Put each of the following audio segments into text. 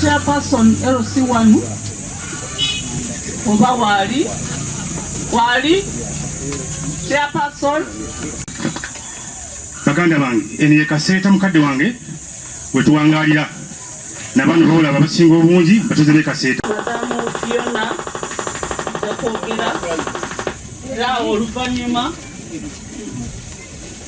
chairperson LC wanu oba waali waali chairperson baganda bange eno ye kaseeta mukadde wange wetuwangalira nabano boolaba abasinga obungi batuze be kaseeta era oluvanyuma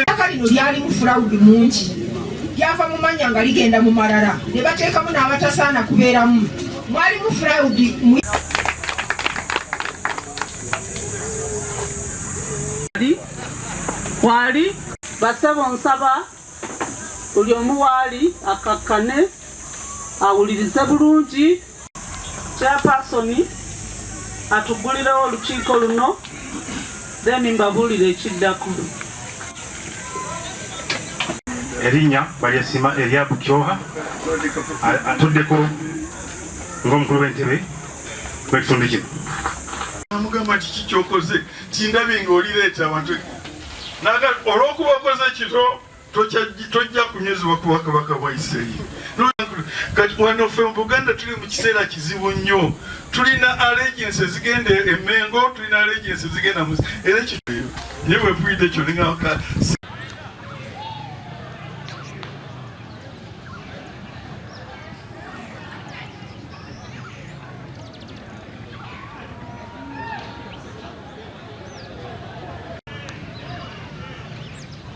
ettaka lino lyalimu fulawudi mungi lyava mu mannya nga ligenda mu malala ne bateekamu n'abatasaana kubeeramu mwalimu fulawudi waali basebo nsaba buli omu waali akakkane awulirize bulungi Chairperson atuggulirewo olukiiko luno then mbabuulire ekiddako. Erinnya balyesima Eriabu Kyoha atuddeko ng'omukulu w'entebe w'ekitundu kino. Amugamba kiki kyokoze tindabye ng'olireeta abantu naga olw'okuba okoze kito tojja kunyuzibwa kuba kabaka bwa isirayiri kati wano fe mubuganda tuli mu kiseera kizibu nnyo tulina allegensi ezigenda emengo tulina allegensi ezigenda era ekityo naye bwepuyidde ekyo ningaka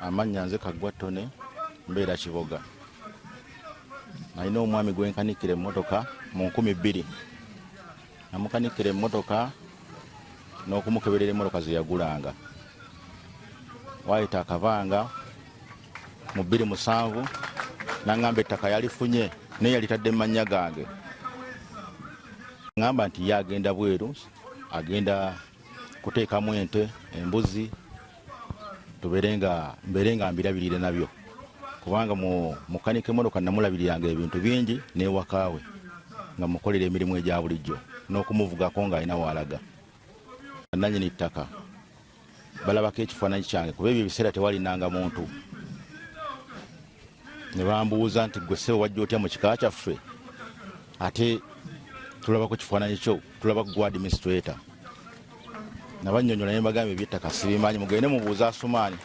amannya nze kaggwa ttone mbeera kiboga nalina omwami gwenkanikira emmotoka mu nkumi bbiri namukanikira emmotoka n'okumukeberera emmotoka ze yagulanga waayita akabanga mu bbiri musanvu nangamba ettaka yalifunye naye yalitadde mu mannya gange ngamba nti ye agenda bweru agenda kuteekamu ente embuzi tubeere nga mbeere nga mbirabirire nabyo kubanga mukanika emotoka namulabiriranga ebintu bingi newakaawe nga mukolera emirimu egya bulijjo n'okumuvugako ng'alina waalaga nanyini ttaka balabako ekifaananyi kyange kuba ebyo ebiseera tewalinanga muntu ne bambuuza nti gwe ssebo wajja otya mu kika kyaffe ate tulaba ku kifaananyi kyo tulaba ku gwa administrator nabanyonyola ne mbagamba ebyettaka sibimanyi mugende mubuuza asumaani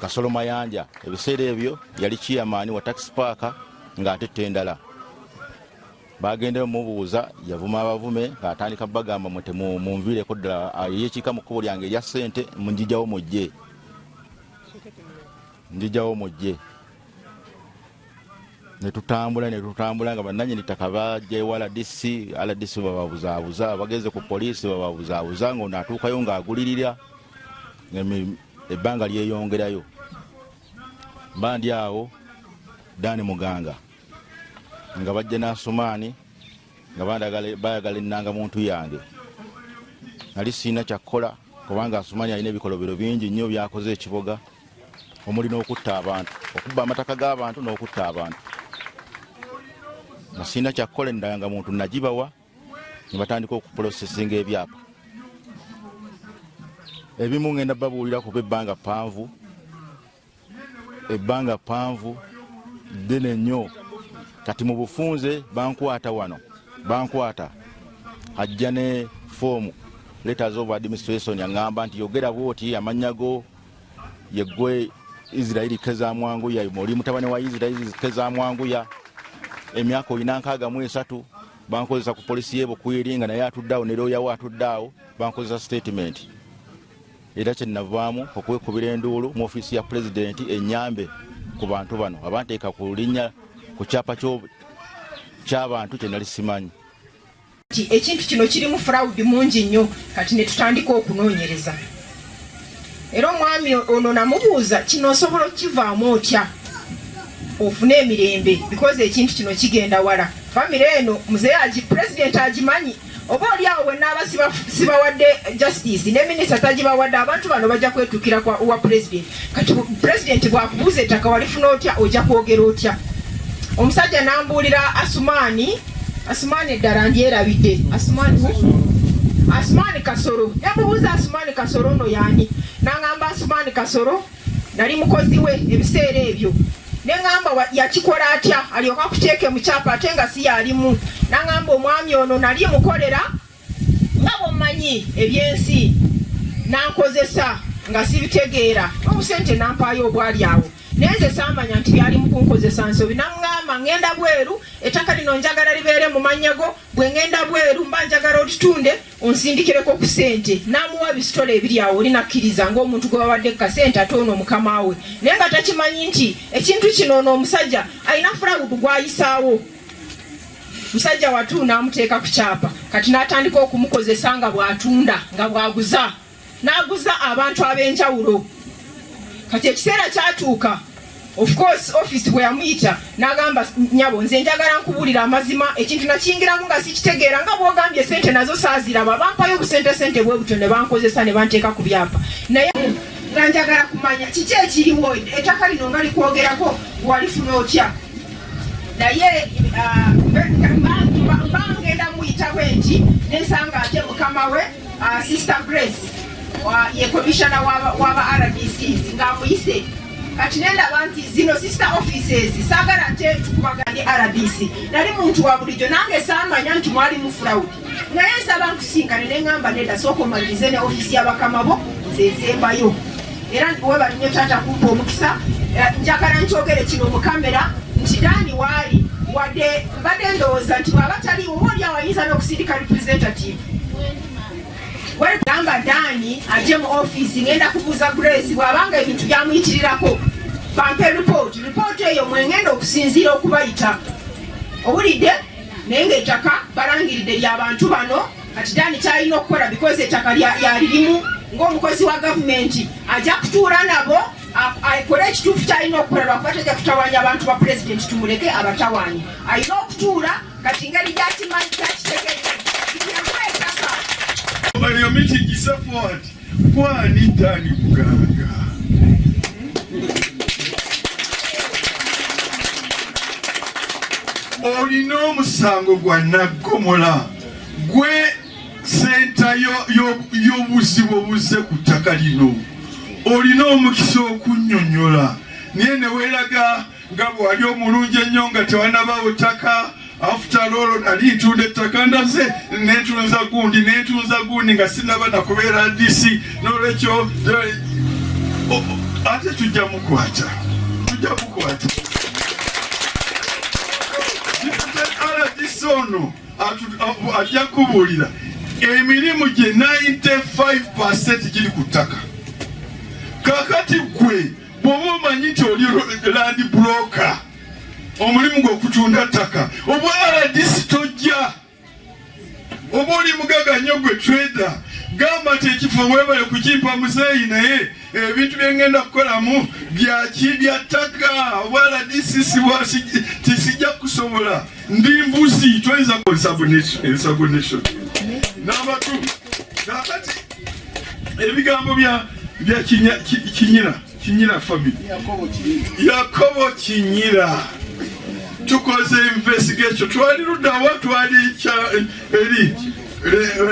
kasolo mayanja ebiseera ebyo yali kiyamaani wa taxi paaka ng'ate ttendala bagendeyo mubuuza yavuma abavume ng'atandika bagamba mwe temunviireko ddala ah, yekiika mu kkubo lyange erya ssente munjijawo mujje njijawo mujje netutambula netutambula nga bananyini ttaka bajewa rdc rdc bababuzaabuza bagenze ku poliisi bababuzaabuza nga ono atuukayo nga agulirira ebbanga lyeyongerayo mba ndi awo dani muganga nga bajja nasumaani nga bayagala ennanga muntu yange nali sirina kyakkola kubanga asumanya alina ebikolobero bingi nnyo byakoze ekiboga omuli n'okutta abantu okubba amataka g'abantu n'okutta abantu nga sirina kyakkola endanga muntu nagibawa ne batandika okupulosesinga ebyapa ebimu ngenda babuulira kuba ebbanga ppanvu ebbanga ppanvu ddene nnyo kati mu bufunze bankwata wano bankwata ajja ne foomu letters of administration aŋŋamba nti yogera bwoti amannya go yeggwe isirairi kezamwanguya oli mutabani wa isirairi kezamwanguya emyaka olina nkaaga mu esatu bankozesa ku polisi yebukwiri nga naye atuddeawo ne looyawo atuddeawo bankozesa sitatimenti era kyenavaamu okwekubira enduulu mu ofiisi ya pulezidenti enyambe ku bantu bano abanteeka ku linnya ku kyapa ky'abantu kye nali simanyi ekintu kino kirimu furawudi mungi nnyo kati ne tutandika okunoonyereza era omwami ono namubuuza kino osobola okukivaamu otya ofune emirembe bikoze ekintu kino kigenda wala famire eno muzeeyi pulezidenti agimanyi oba oli awo bwe naaba sibawadde justice ne minisita tagibawadde abantu bano bajja kwetukira kwa uwa president kati president bwakubuuza ettaka walifuna otya ojja kwogera otya omusajja nambuulira asumaani asumaani eddala ndyerabidde asumaani asumaani kasoro namubuuza asumaani kasoro ono yaani nangamba asumaani kasoro nali mukozi we ebiseera ebyo neŋamba yakikola atya alyoka kuteeke mu kyapa ate nga si yalimu naŋamba omwami ono nali mukolera nga bwommanyi ebyensi nankozesa nga sibitegeera obusente nampaayo obwali awo naye nze saamanya nti byali mukunkozesa nsobi naŋŋamba ŋŋenda bweru ettaka lino njagala libeere mu mannya go bwe ŋŋenda bweru mba njagala olitunde onsindikireko ku sente n'amuwa bisitole ebiri awo oli nakkiriza ng'omuntu gwe bawadde kasente ate ono mukama we naye nga takimanyi nti ekintu kino ono omusajja alina fulawudu gw'ayisaawo musajja watu n'amuteeka ku kyapa kati n'atandika okumukozesa nga bw'atunda nga bw'aguza n'aguza abantu ab'enjawulo kati ekiseera kyatuuka of course office bwe yamuyita n'agamba nyabo nze njagala nkubuulira amazima ekintu nakiyingiramu nga sikitegeera nga bwogambye sente nazo saaziraba bampayo obusente sente bwe butyo ne bankozesa ne banteeka ku byapa naye nga njagala kumanya kiki ekiriwo ettaka lino nga likwogerako walifuna otya naye ah, bangenda muyita bwe nti nensanga ate mukama we Uh, Sister Grace uh, ye commissioner waba RDCs nga amuyise kati nendaba nti zino sister offices saagala nte tukubaganye RDC nali muntu wa bulijjo nange saamanya nti mwali mufulawudi naye nsaba nkusinkane ne ŋŋamba nedda sooka omalirize ne ofisi ya bakama bo nze nsembayo era webali nnyo taata kumpa omukisa eh, njagala nkyogere kino mu kamera nti daani waali wadde mbadde ndowooza nti bwaba taliwo oba oli awayinza n'okusindika representative wegamba daani ajje mu ofiisi ngenda kubuuza grace bwabanga ebintu byamuyitirirako bampe ripooti ripooti eyo mwengenda okusinziira okubayita owulidde naye ngaettaka balangiridde lyabantu bano kati daani kyalina okukola bikozi ettaka lyalirimu ngaomukozi wa gavumenti ajja kutuula nabo akole ekituufu kyalina okukola lwakuba tajja kutawanya abantu ba pulezidenti tumuleke abatawanyi alina okutuula kati ngeri gyakimanyi kyakitegeeza kiyamwetaka baliyomiti kisafwati kwani tani muganga olina omusango gwa naggomola gwe senta y'obuzibu obuzze ku ttaka lino olina omukisa okunyonyola naye neweraga nga bwe wali omulungi ennyo nga tewanabaawo ttaka afutala olwo nali ntunda ettaka ndaze nentunza gundi nentunza gundi nga sinaba nakubeera disi nolwekyo eh, ate tujja mukwata tujja mukwata rdc ono ajja kubuulira emirimu gye 95 giri ku ttaka kakati gwe bwoba omanyi nti oli landi buroka omulimu gwokutunda ttaka obwa rdc tojja oba oli mugaga nnyo gwe trader gamba nti ekifo webale kukimpa muzeeyi naye ebintu byengenda kukolamu byaki bya ttaka obwa rdc tisijja kusobola ndi mbuzi toyinza kukolesabunesabunation nabatu kakati ebigambo bya bya kinyira kinyira family yakobo kinyira tukoze investigation twali ludawa twali eri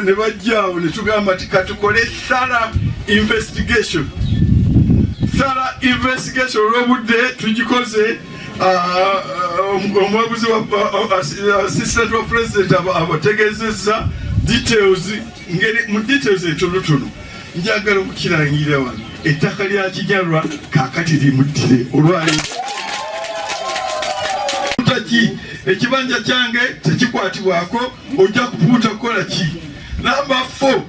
ne bajjaawo ne tugamba nti katukole sala investigation sala investigation olwobudde tugikoze ah, ah, omwabuzi wa ah, assistant wa president abategezeza details ngeri mu details entonotono njagala okukirangirira wano ettaka lya kijalwa kakati limuttire olwali ki ekibanja kyange tekikwatibwako ojja kupuuta kukola ki namba fo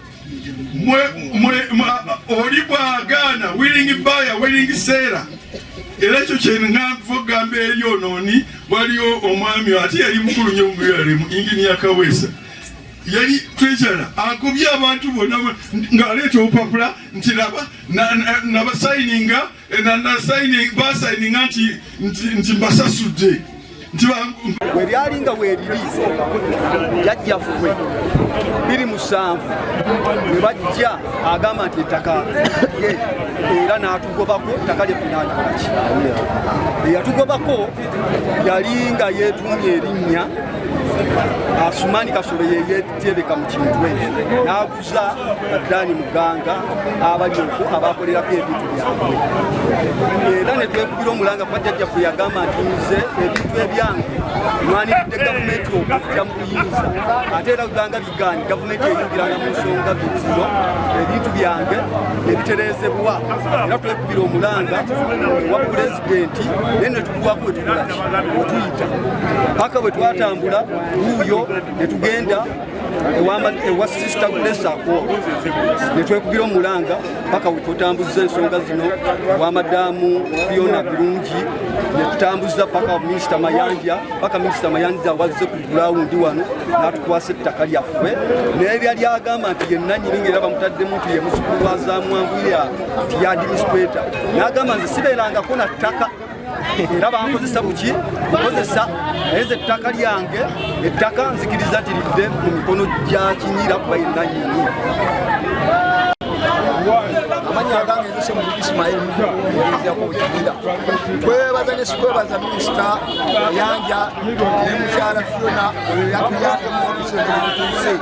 oli bwagaana wiringi baya wiringi seera era ekyo kyenanva okugamba eri onooni waliwo omwami ate yali mukulu nyo mubiralimu ingini yakaweesa yali twejala agobye abantu bona ng'aleeta obupapula nti laba nabasayininga eh, basayininga nti mbasasudde webyali nga weebiri jajjaffe biri musanvu we bajja agamba nti ettaka ye era n'atugobako ettaka lyefunankolaki eyatugobako yali nga yeetuumya erinnya Asumani Kasolo yeyetereka mu Kintwe n'aguza Dani Muganga abali okwo abakolerako ebintu byabwe era ne twekubira omulanga kuba jjajjaffe yagamba nti nze ebintu ebyange nwanidde gavumenti okujja mu buyinza ate era ganga Gani gavumenti eyingiranga mu nsonga zino ebintu byange ebiterezebwa era twekubira omulanga wa pulezidenti naye netukuwako wetugulaki wetuyita paka bwe twatambula wuuyo netugenda ewa sisita kulesako netwekubira omulanga paka wetutambuzza ensonga zino wa madamu fiona birungi netutambuza paka minisita mayanja paka minisita mayanja wazze ku gurawundi wano n'atukwasa ettaka lyaffe n'ebya lyagamba nti ye nanyini ngaera bamutaddemu nti ye muzukulu wa zamwangulira nti ya administrata n'agamba nze sibeerangako na ttaka era bankozesa buki nkozesa naye ze ettaka lyange ettaka nzikiriza nti lidde mu mikono gya kinyira kuba ye nanyini amanya agange yose mu Ismail mugezi yakobukira kwebaza ne sikwebaza minisita yanja nemukyala fiona oyo yatuyambe muotuseetutuuse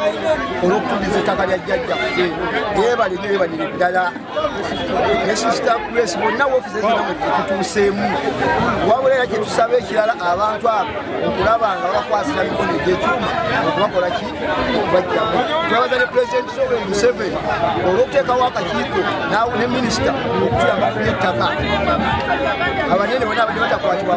olwokukuddiza ettaka lya jjajjaffe yebali nebalire ddala nesisita grace bonna wofiisi ezinamwetutuuseemu wabula era kyetusaba ekirala abantu abo okulaba nga babakwasira mikono egyekyuma okubakola ki okubajjamu twebaza ne pulezidenti sobe museveni olwokuteekawo akakiiko nawe ne minisita okutuyamba kunettaka abanene bona abadde batakwatibwa